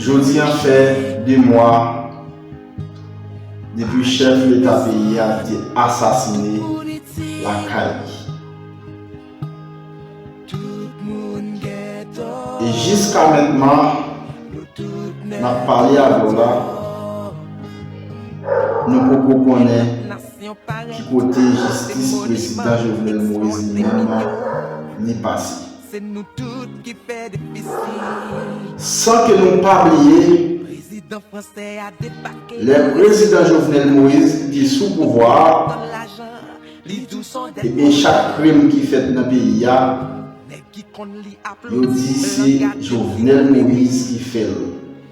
Jodi an fè 2 mwa depi chèf leta peyi a te asasine lakay li. E jiska mentman nap pale avèw la nou poko konnen. Ki kote jistis prezidan Jovenel Moise li menm an li pase? San ke nou pa bliye, lè prezidan Jovenel Moise li te sou pouvwa a, ebyen chak krim ki fèt nan peyi a, yo di se Jovenel Moise ki fè l.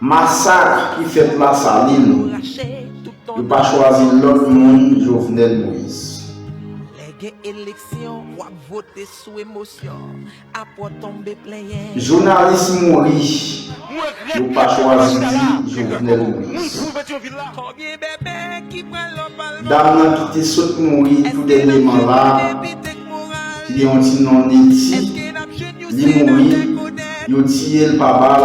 Masak ki fèt la salin. Yo pa chwazi lòt moun Jovenel Moïse. Jounalis mouri yo pa chwazi di Jovenel Moïse. Dam nan ki te sot mouri tou dènyeman la ki gen yon ti non Netty li mouri yo tiyel pa bal.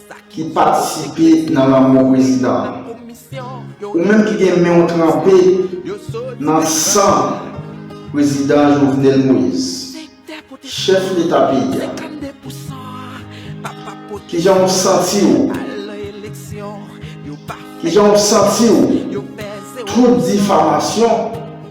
ki patisipe nan lanmò prezidan an ou menm ki gen menw tranpe nan san prezidan Jovenel Moïse chèf leta peyi a kijanw santiw kijanw santiw tout difamasyon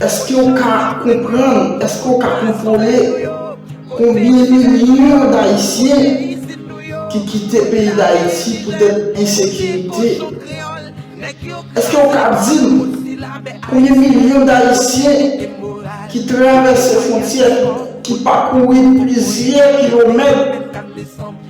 Eske w ka konprann, eske w ka kontwole konbyen milyon dayisyen ki kite peyi dayiti poutèt ensekirite? Eske w ka di m konbyen milyon dayisyen ki travèse fwontyè, ki pakouri plizyè kilomèt?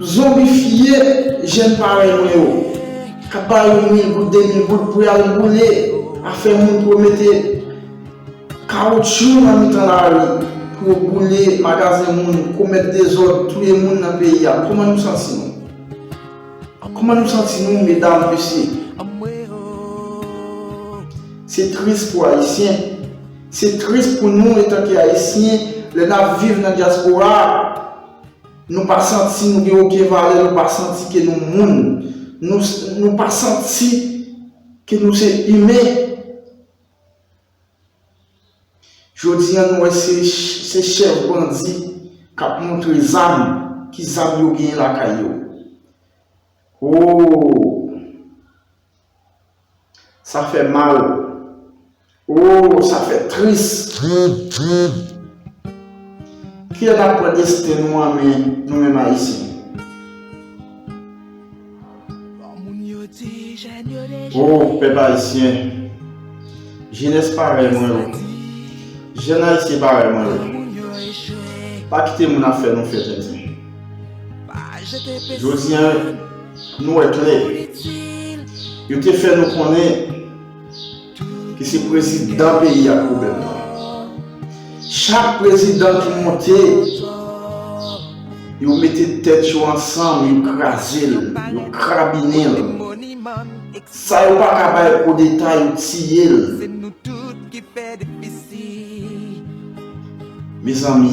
Zonbifye jèn parèy mwen yo, k ap ba yo mil goud, de mil goud pou y al boule afè moun, pou yo mete kawotchou nan mitan lari, pou yo boule magazen moun, komèt dezòd, touye moun nan peyi a. Kouman nou santi nou? Kouman nou santi nou, medam, mesye? Se tris pou Ayisyen. Se tris pou nou etanke Ayisyen lè n ap viv nan dyaspora a. Nou pa santi nou gen oken valè, nou pa santi ke nou moun, nou pa santi ke nou se imen. Jodi an nou wè se chèf bandi k ap montre zam, ki zam yo genyen lakay yo. Ooh! Sa fè mal ooh sa fè tris. Kiyè kap pran desten nou an men nou menm ayisyen. Oh pèp ayisyen jenès parèy mwen yo jèn ayisyen parèy mwen yo pa kite moun ap fè nou fè tenten jodi an. Nou wè klè, yo te fè nou konnen ke se prezidan peyi a k pwoblèm nan. Chak prezidan ki monte, yo mete tèt yo ansanm, yo kraze l, yo krabinen l. Sa yo pa ka bay koudeta, yo tiye l. Mezanmi!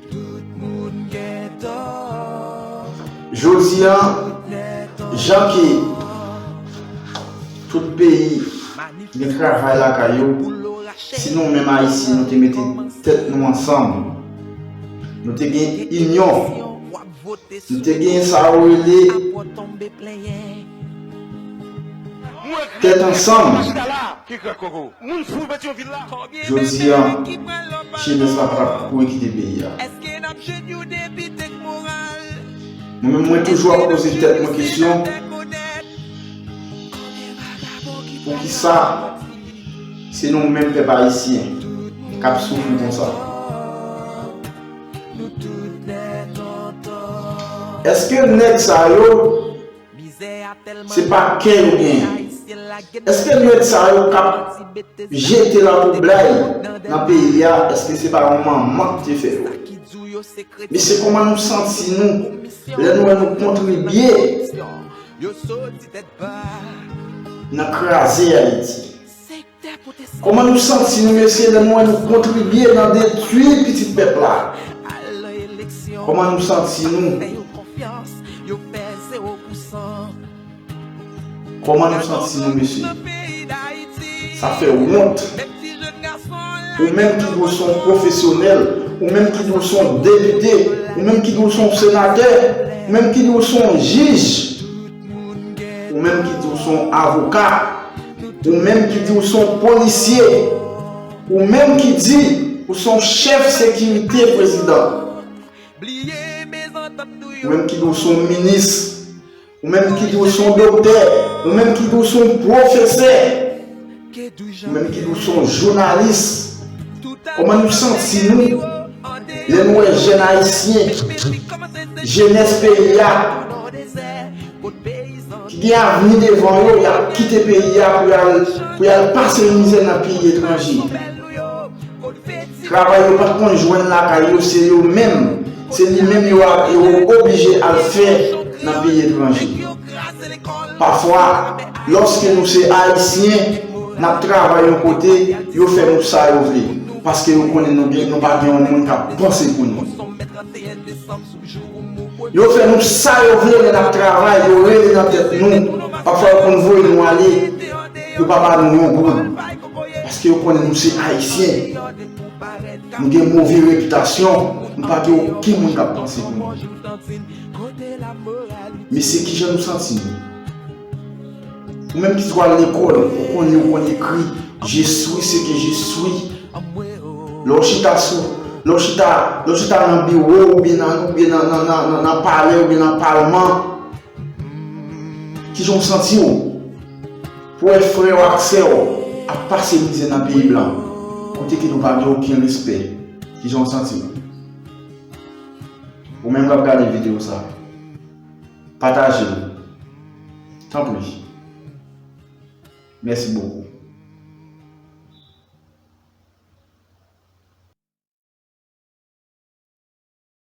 Jodi a, jan ke tout peyi gen travay lakay yo, si nou menm Ayisyen nou te mete tèt nou ansanm, nou te gen inyon, nou te gen sa yo rele. Tèt ansanm! Jodi a, jenès la pa t kouri kite peyi a. Mwen menm mwen toujou ap poze tèt mwen kesyon, poukisa se nou menm pèp ayisyen k ap soufri konsa? Èske nèg sa yo. Se pa kè yo genyen. Eske lunettes sa yo kap jete lan pou blay nan peyi a eske se pa yon manman ki te fè yo. Mesye koman nou santi nou lè nou wè nou kontribye nan kraze Ayiti. Koman nou santi nou mesye lè nou wè nou kontribye nan detwi pitit pèp la? Koman nou santi nou? Koman nou santi nou mesye? Sa fè wont. Ou menm ki dwe son pwofesyonèl, ou menm ki dwe son depite, ou menm ki dwe son senatè, ou menm ki dwe son jij, ou menm ki dwe son avoka. Ou menm ki di ou se yon polisye, ou menm ki di ou se yon chèf sekirite prezidan, ou menm ki di ou se yon minis, ou menm ki di ou se yon doktè, ou menm ki di ou se yon pwofesè, ou menm ki di ou se yon jounalis, kòman nou santi nou lè nou wè jèn ayisyen, jenès peyi a, ki gen avni devan yo y ap kite peyi a pou y al pou y al pase mizè nan peyi etranje travay yo pa t konn jwenn lakay yo se yo menm se li menm yo ap yo oblije al fè nan peyi etranje pafwa lòske nou se ayisyen n ap travay yon kote yo fè nou sa yo vle paske yo konnen nou gen nou pa gen yon moun k ap panse pou nou. Yo fè nou sa yo vle lè nap travay yo rele nan tèt nou pafwa yo konn voye nou ale yo pa ba nou yon goud paske yo konnen nou se ayisyen nou gen move repitasyon nou pa gen okenn moun kap panse pou nou mesye kijan nou santi nou. Ou menm ki twal lekòl, ou konn li ou konn ekri, je suis ce que je suis. Lè w chita sou, lè w chita, lè w chita nan biwo ou byen nan, ou byen nan, nan, nan, nan palè ou byen nan palman, kijan w santi w? Pou wè frè w ak sè w ap pase mizè nan peyi blan, kote ke nou pa gen oken respè, kijan w santi w? Ou menm k ap gade videyo sa. Pataje l tanpri mèsi bokou.